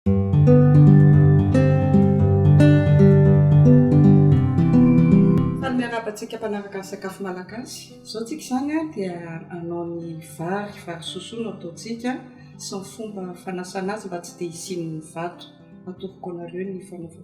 Faly miarahaba antsika mpanaraka ny sakafo malagasy. Izao tsika izany dia hanao ny vary, vary sosoa no ataontsika sy ny fomba fanasana azy mba tsy dia hisian'ny vato. Atoroko anareo ny fanaovana.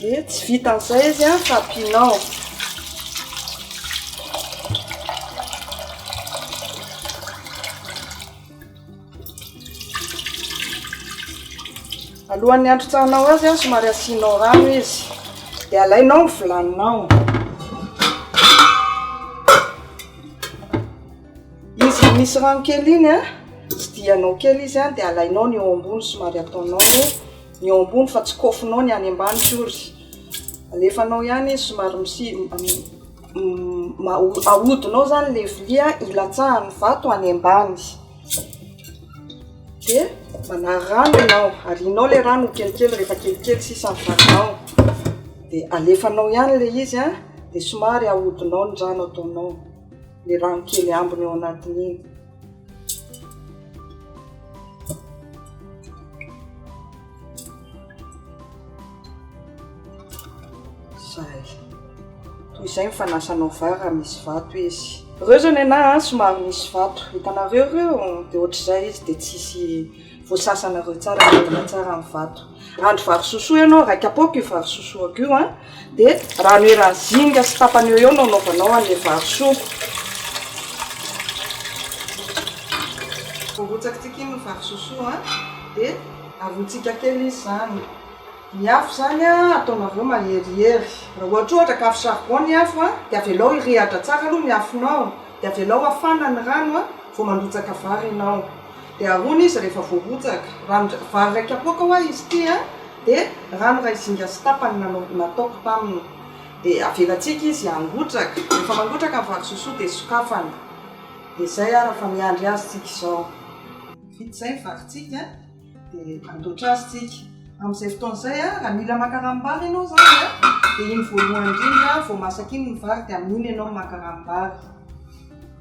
Dia tsy vitan'izay izy an, fa ampianao alohan'ny hantrotsahanao azy an, somary asianao rano izy, dia alainao ny vilaninao. Izy vao misy rano kely iny a, tsidihanao kely izy a, dia alainao ny eo ambony somary ataonao ny eo ambony fa tsy koafinao ny any ambany akory. Alefanao ihany izy somary ahodinao izany ilay vilia hilatsahan'ny vato any ambany. Dia manary rano ianao, arianao ilay rano ho kelikely rehefa kelikely sisa ny vaninao. Dia alefanao ihany ilay izy a, dia somary ahodinao ny rano ataonao. le rano kely ambiny ao anatin'iny. Zay. Toy izay ny fanasanao vary raha misy vato izy. Reo zao nenah somary misy vato, hitanareo reo? De ohatr'izay izy de tsisy voasasanareo tsara mendrika tsara ny vato andro vary sosoa ianao raika apoaka io vary sosoako io a dia rano eran'ny zinga sy tapany eo eo no anaovanao an'ilay vary soa voarotsakitsika iny ny vary sosoa a dia arotsika kely izy izany ny afo izany a ataonareo maherihery raha ohatra ohatra ka afo charbon ny afo a dia avelao hirehatra tsara aloha ny afonao dia avelao hafana ny rano a vao mandotsaka vary ianao Dia ahoana izy rehefa voarotsaka? Ranon-dra, vary iray kapoaka hoa izy ity an! Dia rano iray zinga sy tapany nanao, nataoko taminy. Dia avelantsika izy hangotraka. Rehefa mangotraka ny vary sosoa dia sokafana. Dia izay ara fa miandry azy tsika izao. Vita izay ny varitsika dia andoatra azy tsika. Amin'izay fotoana izay an, raha mila maka ranom-bary ianao izany an, dia iny voalohany indrindra vao masaka iny ny vary dia amin'iny ianao maka ranom-bary.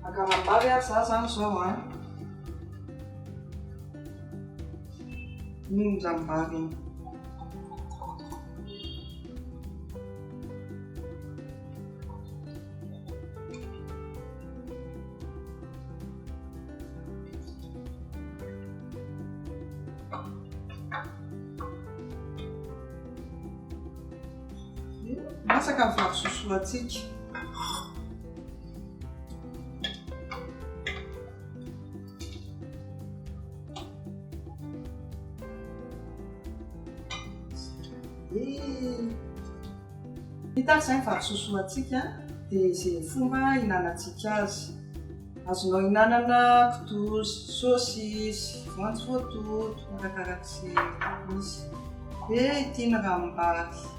Ankaram-bavy ary za zany zao an! Mino zany mbavy iny. Masaka ny vary sosoa antsika. Hita izay ny vary sosoa antsika dia izay fomba ihinanantsika azy. Azonao ihinanana kitoza, saosisy, voanjo voatoto, arakarak'izay misy. Dia ity ny ranombary.